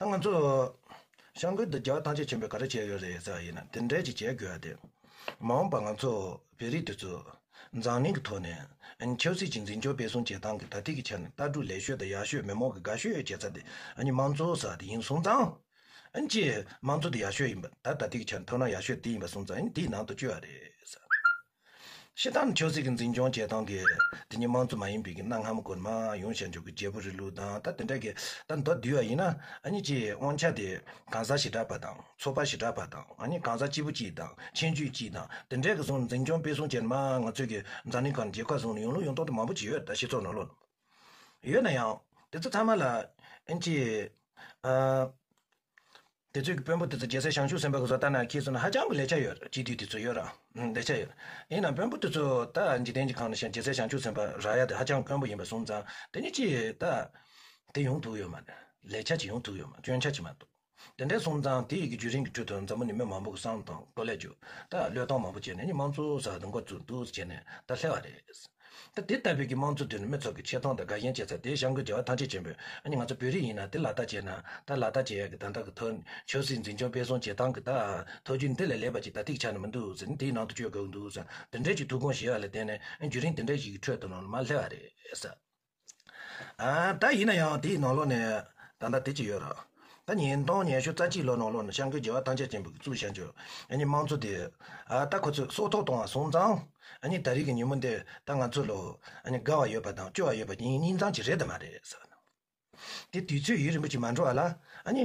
ད་ང་ཚོ་ཤང་ཀུན་ཏུ་རྒྱལ་བ་ཐང་ཆེན་ཆེན་པོས་ག་རེ་བྱས་ཡོད་རེད་ཟེར་བ་ཡིན་ན་དེ་འདྲས་ཅིག་བྱེད་དགོས་ཡ་དེ། མ་འོངས་པར་ང་ཚོ་བོད་རིགས་དེ་ཚོས་འཛམ་གླིང་གི་ཐོག་ནས་ཆབ་སྲིད་ཀྱི་འཛིན་སྐྱོང་སྤེལ་གསུམ་བྱེད་སྟངས་ཀྱི་དག་ཐེར་གྱི་ཆ་ནས་ལྟ་གྲུབ་ལེགས་ཤོས་དང་ཡག་ཤོས་མི་མང་གི་དགའ་ཤོས་ཡོད་བྱེད་ས་དེ་མང་གཙོ་ས་དེ་ཡིན་སོང་ཙང། ཅི། མང་གཙོ་དེ་ཡག་ཤོས་ཡིན་པ་ད་ལྟ་དག་ཐེར་གྱི་ཆ་ནས་ཐོབ་ན་ཡག་ཤོས་དེ་ཡིན་པ་སོང་ཙང་དེའི་ནང་དུ་བཅུག་ཡ་རེད། ཤི་འཐམ་ཆོས་སྲིད་ཀྱི་འཛིན་སྐྱོང་བྱེད་སྟངས་ཀྱིས་དེ་ཉིད་དམངས་གཙོ་མ་ཡིན་པའི་གནའ་སྔ་མོ་སྐོར་མ་ཡོང་བྱེད་འཇུག་གི་རྒྱལ་པོ་རི་ལུ་དང་ད་དེ་འདྲ་གི་ད་མདོ་བསྡུས་བ་ཡིན་ན་ཨ་ཉི་ཀྱི་དབང་ཆ་དེ་གང་ཟག་ཞི་དྲག་པ་དང་ཚོ་པ་ཞི་དྲག་པ་དང་ཨ་ཉི་གང་ཟག་སྐྱིད་པོ་སྐྱིད་དང་ཆེན་རྒྱུད་སྐྱིད་དང་དེ་འདྲས་ཀྱི་བཟུང་འཛིན་སྐྱོང་སྤེལ་སྲུང་བྱེད་མ་ང་ཚོས་ཀྱི་འཛམ་གླིང་ཁག་ནས་རྒྱལ་ཁག་བཟུང་ནས་ཡོང་ལུགས་ཡོང་སྟོང་དུ་མང་པོ་ཅིག་ཡོད་ད་ཤི་ཚོགས་ནོར་ལོག་ཡོད་ན་ཡང་དེ་ཚོ་ཚང་མ་ལ་ཨིན་ཅི། དེ་ཚོའི་གི་དཔོན་པོ་དེ་ཚོ་རྒྱལ་སྲས་ཞང་ཞུང་སེམས་དཔའ་གི་བཟོ་ལྟ་ན་ཁྱེད་ཚོ་ན་ཧ་ཅང་གི་ལས་ཆ་ཡོད་རེད་སྤྱི་འཐུས་དེ་ཚོ་ཡོད་རང་ལས་ཆ་ཡོད་རེད་ཡིན་ནང་དཔོན་པོ་དེ་ཚོ་ད་འཇིག་རྟེན་གྱི་ཁང་ན་ཞེན་རྒྱལ་སྲས་ཞང་ཞུང་སེམས་དཔའ་ར་ཡ་དེ་ཧ་ཅང་དཔོན་པོ་ཡིན་པ་གསུངས་ཙང་དེ་ནི་ཅི་ཡོད་ད་དེ་ཡོང་ཐུག་ཡོད་མ་རེད་ལས་ཆ་ཅི་ཡོང་ཐུག་ཡོད་མ་སྐྱོན་ཆ་ཅི་མ་འདུག་དེ་འདྲས་གསུངས་ཙང་དེ་ཡི་གི་བརྒྱུད་རིམ་གི་ཁྲོད་དུ་མཛའ་མོ་ནི་མི་མང་པོ་གི་བསམ་དང་བློ་ལས་འགྱུར་ད་བློས་གཏོང་མང་པོ་བྱས་ནས་ནི་དམངས་གཙོ་ཟ་འདི་འགོ་བཙུགས་འདུག་ཟེར་ནས་ད་ལྷེ་བ་རེད། ད་དེ་ལྟ་བུའི་གི་དམངས་གཙོ་དེ་ནི་མི་ཚོགས་ཀྱི་ཆེ་མཐོང་དང་དགའ་ཞེན་བྱེད་ས་དེ་ཞང་ཀོའི་རྒྱལ་བ་ཐང་ཆེན་ཆེན་པོས་ཨ་ནི་ང་ཚོ་བོད་རིགས་ཡིན་ན་དེ་ལག་བསྟར་བྱས་ན་ད་ལག་བསྟར་བྱེད་ཡག་གི་ད་ད་གི་ཐོ་ཆོས་སྲིད་འཛིན་སྐྱོང་སྤེལ་གསུང་བྱེད་སྟངས་གི་ད་ཐོ་རྒྱུ་འདི་ལས་ལེགས་པ་ཅིག་ད་ཐིག་ཆ་ནི་མི་འདུག་ཟེར་ནས་དེའི་ནང་དུ་བཅོས་དགོས་ཀྱི་འདུག་ཟེར་ན་དེ་འདྲའི་ཅིག་ཐུགས་དགོངས་བཞེས་བ་ལ་བརྟེན་ནས་རྒྱུན་རིང་དེ་འདྲའི་ཞིག་གི་ཁྲོད་དུ་ནོར་ལ་མ་སླེབས་བ་རེད། ད་ཡིན་ན་ཡང་དེའི་ནང་ལོགས་ནས་ད་ལྟ་དེ་ཅི་ཡོད་རག། ད་ཉིན་སྟོང་ཉེར་ཤུ་རྩ་གཅིག་ལོ་ནང་ལོགས་ནས་ཤང་ཀུའི་རྒྱལ་བ་ཐང་ཆེན་ཆེན་པོ་གི་གཙུག་བྱང་ཆུབ་ཨ་ནི་དམངས་གཙོ་དེ། ད་ཁོ་ཚོས་སྲོག་ཐོག་བཏང་བ་སོང་ཙང། ཨ་ནི་ད་རིགས་ཀྱི་ཉིན་མོ་འདི་ད་ང་ཚོ་ལོགས་ཨ་ནི་དགའ་བ་ཡོད་པ་དང་སྐྱོ་བ་ཡོད་པ་གཉིས་གཉིས་ཙམ་གྱི་རེད་དམ་མ་རེད། དེ་དུས་ཚོད་ཡུན་རིང་པོ་ཞིག་མ་འགྲོ་བ་ལ་ཨ་ནི།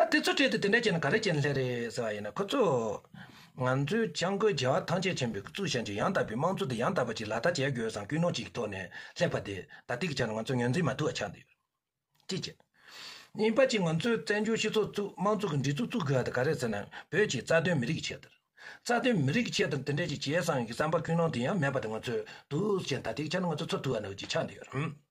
ད་དེ་ཚོའི་གྲས་དེ་དེ་འདྲ་བྱས་ན་ག་རེ་བྱས་ན་ལྷད་རེད་ཟེར་བ་ཡིན་ན་ཁོ་ཚོས། ང་ཚོའི་བྱང་སྒོའི་རྒྱལ་བ་ཐང་ཆད་ཆེན་པོའི་གཙུག་བྱང་གི་ཡང་དག་པའི་དམངས་གཙོ་དེ་ཡང་དག་པ་ཅིག་ལག་བསྟར་བྱེད་དགོས་སམ་ཀུན་སློང་ཅིག་གི་ཐོག་ནས་སླེབས་པ་དེ་ད་ལྟའི་ཆར་ང་ཚོ་ངོས་འཛིན་མ་ཐུབ་པ་ཆགས་འདུག་ཅེས་བཤད། གཉིས་པ་ཅིག་ང་ཚོས་བཙན་བྱོལ་སྤྱི་ཚོགས་བཙུགས་དམངས་གཙོ་གི་འདྲི་གཙུག་བཙུགས་དགོས་པ་དེ་ག་རེད་ཟེར་ན་བོད་ཀྱི་རྩ་དོན་མི་རིགས་ཀྱི་ཆེད་དུ། རྩ་དོན་མི་རིགས་ཀྱི་ཆེད་དུ་དེ་འདྲ་ཅིག་བྱས་སམ་ཡང་གི་བསམ་པ་ཀུན་སློང་དེ་ཡང་མེད་པ་དེ་ང་ཚོས་འདུག་ཅེས་ད་ལྟའི་ཆར་ང་ཚོ་ཚོར་ཐུབ་པ་ནི་ཅིག་ཆགས་འདུག་ཡ་རབས།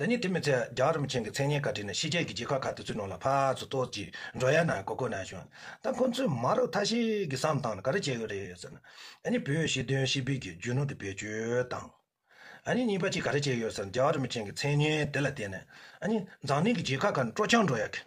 ད་ནི་དེ་མི་ཚད་རྒྱ་རིམ་ཆེན་གྱི་མཚན་སྙན་ག་བྲིས་ནས་ཕྱི་རྒྱལ་གྱི་རྒྱལ་ཁབ་ཁག་དེ་ཚོའི་ནང་ལ་ཕར་ཚུར་ལྟོ་ཅི་འགྲོ་ཡ་ན་གོ་གོ་ན་བྱུང། ད་ཁོ་ཚོས་མ་རབས་ཐ་ཤལ་གྱི་བསམ་སྟངས་ལ་ག་རེ་བྱས་ཡོད་རེད་ཟེར་ན། ད་ནི་བོད་ཞི་དོན་ཞི་འབིག་གི་རྒྱུ་ནོར་དེ་བེད་སྤྱོད་དང། ད་ནི་གཉིས་པ་གཅིག་ག་རེ་བྱས་ཡོད་ཟེར་ན་རྒྱ་རིམ་ཆེན་གྱི་མཚན་སྙན་དེ་ལ་བརྟེན་ནས་ད་ནི་འཛམ་གླིང་གི་རྒྱལ་ཁག་ཁག་ནས་སྤྲོ་འཆམ་འགྲོ་ཡ་གི།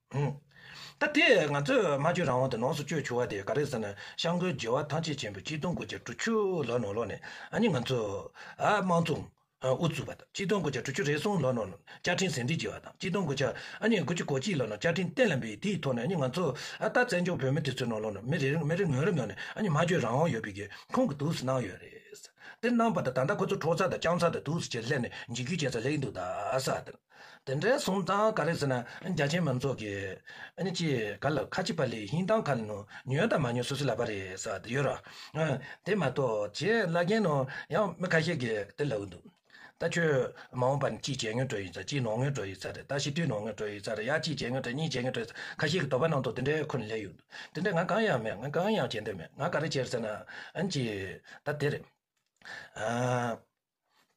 ད་དེ་ང་ཚོས་སྨྲ་བརྗོད་རང་དབང་དུ་ནོངས་སུ་བཅོས་བྱུང་བ་དེ་ག་རེ་ཟེར་ན་ཤང་ཀོའི་རྒྱལ་བ་ཐང་ཆེན་ཆེན་པོས་སྤྱི་དོན་དགོས་ཆ་དྲུག་ཅུ་ལོ་ནོར་ལོག་ནས་ཨ་མྱེ་ང་ཚོ། དམངས་གཙོ། དབུ་བཙུགས་པ་དང་སྤྱི་དོན་དགོས་ཆ་དྲུག་ཅུ་རེ་གསུམ་ལོ་ནོར་བཅའ་ཁྲིམས་ཟིན་བྲིས་བགྱིས་བ་དང་སྤྱི་དོན་དགོས་ཆ་ཨ་མྱེ་དགུ་ཅུ་གོ་གཅིག་ལོ་ནོར་བཅའ་ཁྲིམས་གཏན་ལ་འབེབས་དེའི་ཐོག་ནས་ཨ་མྱེ་ང་ཚོ། ད་བཙན་བྱོལ་བོད་མི་དེ་ཚོའི་ནང་ལོག་ནོར་མི་རེ་རེ་ངོས་རེ་ནོར་ནས་ཨ་མྱེ་སྨྲ་བརྗོད་རང་དབང་ཡོད་པའི་སྒེར་ཁུང་གི་དུག་སུ་གནང་ཡོད་རེད། དེ་གནང་བ་དང་ད་ལྟ་ཁོ་ཚོ་ཁྲོག་ཚ་དང་རྐྱང་ཚ་དང་དུག་སུ་ཅེར་སླེབས་ནས་འཇིགས་སྐུལ་བྱེད་ས་ལེགས་འདུག་ད་ས་དེར། དེ་འདྲའི་གཟུངས་གཙང་ག་རེ་ཟེར་ན་རྒྱ་ཆེན་མང་ཚོགས་ཀྱིས་ཅི་ག་ལ་ཁ་ཅིག་པ་ལས་ཧིན་དང་ག་ལ་ནུ་ཉོན་དང་མ་ཉོན་སུ་སུ་ལ་བ་རེ་ས་དེ་ཡོད་རོ། དེ་མ་གཏོགས་བྱས་སླ་རྒན་ནོ་ཡང་མི་ཁ་ཤས་ཀྱིས་དེ་ལ་འུ་འདུག་ད་ཁྱོད་མ་འོངས་པར་ཅི་བྱས་ཉོན་སྤྲོད་ཡོད་ཚ་ཅི་ནོ་ངོས་སྤྲོད་ཡོད་ཚ་རེད་ད་ཤི་དུས་ནོ་ངོས་སྤྲོད་ཡོད་ཚ་རེད་ཡ་ཅི་བྱས་ངོས་སྤྲོད་གཉིས་བྱས་ངོས་སྤྲོད་ཡོད་ཚ་ཁ་ཤས་ཀྱི་དོགས་པ་ནང་དུ་དེ་འདྲའི་ཁུར་ལེ་ཡོད་འདུག་དེ་འདྲའི་ང་གང་ཡང་མེད་ང་གང་ཡང་བྱས་འདོད་མེད་ང་ག་རེ་བྱས་ཟེར་ན་ཅི་ད་དེ་རེད།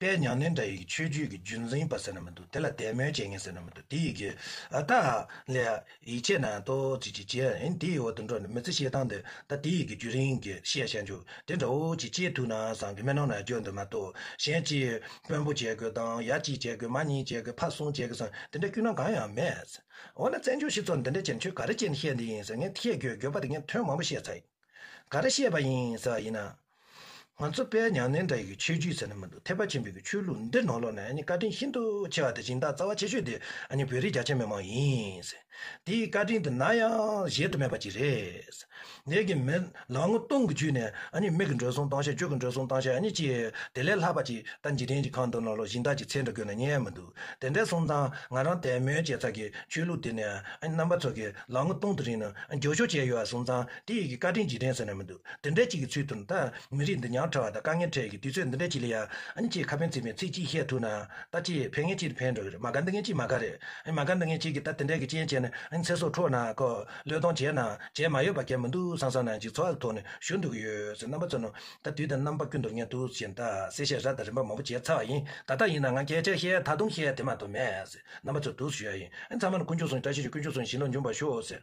པའི་མྱང་ནན་དྲ་ཡིག་ཆོས་བརྒྱུད་ཀྱི་བརྒྱུད་འཛིན་པ་ཟེར་ན་མི་འདུག་དེ་ལ་དད་མོས་བྱེད་མཁན་ཟེར་ན་མི་འདུག་དེ་ཡི་གེ་ད་ལས་ཡིག་ཆས་ནང་ཏོ་ཅིག་ཅིག་བྱས་ཨིན་དེ་ཡི་འོག་ཏུ་འགྲོ་ནས་མི་ཚེ་ཤེལ་དང་འདིར་ད་དེ་ཡི་གེ་བརྒྱུད་རིང་གི་ཤེས་བྱ་འཇུག་དེ་འདྲ་བོ་ཅིག་སྤྱིའི་ཐུགས་སྣང་བཟང་གི་སྨོན་ནང་ན་བརྗོད་འདོད་མ་གཏོགས་གཞན་སྤྱིའི་དཔོན་པོ་བྱེད་དགོས་དང་ཡ་གཅིག་བྱེད་དགོས་མ་གཉིས་བྱེད་དགོས་ཕ་གསུམ་བྱེད་དགོས་སམ་དེ་འདྲ་སྐྱུག་ན་གང་ཡང་མེད། འོ་ན་བཙན་བྱོལ་སྤྱི་ཚོགས་འདི་འདྲ་ཅན་ཁྱོད་ག་རེ་བྱས་ནས་བཤད་འདི་ཡིན་ཟེར་ངས་བཤད་རྒྱུའི་དགོས་པ་དེ་ངས་དོན་མང་པོ་བཤད་ཚར་ཡིན་ག་རེ་བཤད་པ་ཡིན་ཟེར་བ་ཡིན་ན། ང་ཚོ་དཔལ་མྱང་ནན་བྲག་གི་ཆོས་བརྒྱུད་ཟེར་ན་མི་འདུག་ཐེག་པ་ཆེན་པོའི་གི་ཆོས་ལུགས་འདི་ནོར་ལོག་ནས་བཀའ་དྲིན་ཤིན་ཏུ་ཆེ་བ་དེ་སྦྱིན་བདག་རྩ་བ་ཆེ་ཤོས་དེ་བོད་རིགས་རྒྱ་ཆེ་མི་མང་ཡིན། དེའི་བཀའ་དྲིན་དེ་ན་ཡང་གཞལ་དུ་མེད་པ་ཅིག་རེད། ངེད་ཀྱི་མི་ལ་ངོ་གཏོང་གི་བརྒྱུད་ནས་མིག་གི་འགྲོ་སོང་བཏང་ཤ་རྒྱུག་གི་འགྲོ་སོང་བཏང་ཤ་ཅི་དེ་ལས་ལྷག་པ་ཅིག་ལྟ་འཇིག་རྟེན་གྱི་ཁང་དུ་ནོར་ལོག་སྦྱིན་བདག་གི་ཚེ་འདྲ་དགོས་ན་རྙེད་མི་འདུག་དེ་འདྲའི་སོང་ཙང་ང་རང་དད་མོས་བྱས་ཚར་གི་ཆོས་ལུགས་དེ་ནི་རྣམ་པ་ཚོ་གི་ལ་ངོ་གཏོང་དུ་རིང་ནས་འགྱོགས་ཤོག་བྱས་ཡོད་བ་སོང་ཙང་དེའི་གི་བཀའ་དྲིན་འཇིག་རྟེན་ཟེར་ན་མི་འདུག། འདི་འདྲའི་ཅིག་གི་ཚུལ་དུ་ད་མི་རིགས་འདི་ཉག་ཕྲ་བ་དང་དཀའ་ངལ་འཕྲད་ཀྱི་དུས་ཚོད་འདི་འདྲའི་ཅིག་ལ་ཡང་ཅེས་ཁ་ཕན་ཚིག་མེད་ཚིག་གཅིག་བཤད་ཐུབ་ན་ད་ཅེས་ཕན་ངེས་ཅིག་ཕན་འགྲོ་གི་རེད་མ་ག་འདི་ངན་ཅིག་མ་ག་རེད་མ་ག་འདི་ངན་ཅིག་གིས་ད་དེ་འདྲའི་གི་རྐྱེན་བྱས་ནས་ཚེ་སྲོག་འཕྲོག་ན་གོ་བློས་གཏོང་བྱས་ན་བྱས་མ་ཡོད་པ་གལ་མི་འདུག་སང་སང་ན་ཅིག་འཚོ་བ་གི་ཐོག་ནས་ཞུ་འདོད་ཀྱི་ཡོད་ཟེར་རྣམ་པ་ཚོ་ནི་ད་དུས་དང་རྣམ་པ་ཀུན་ཏུ་ངས་དུས་བཞིན་ད་གསལ་བཤད་ར་དང་རིམ་པ་མང་པོ་བྱས་ཚར་བ་ཡིན་ད་ལྟ་ཡིན་ན་འང་གལ་ཆེར་བཤད་ད་དུང་བཤད་དེ་མ་ཐུབ་མེད་ཟེར་རྣམ་པ་ཚོས་དུས་སུ་ཞུ་ཡ་ཡིན་ཚང་མ་ནི་ཀུན་སྤྱོད་བཟུང་བྱ་ཤེས་ཤིང་ཀུན་སྤྱོད་བཟུང་བཞིན་ལ་འཇུངས་པར་ཤོག་ཟེར།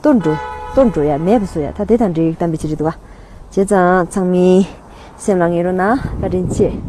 ལྟོ་འགྲོ། ལྟོ་འགྲོ་ཡ་མེད་པ་སོ་ཡ་ད་དེ་དང་འབྲེལ་ཡོད་གཏམ་དཔེ་ཅི་རིགས་བསྡུ་བ། བྱས་ཙང་ཚང་མིའི་སེམས་ལ་ངེས་རུང་ན་བཀའ་དྲིན་ཆེ།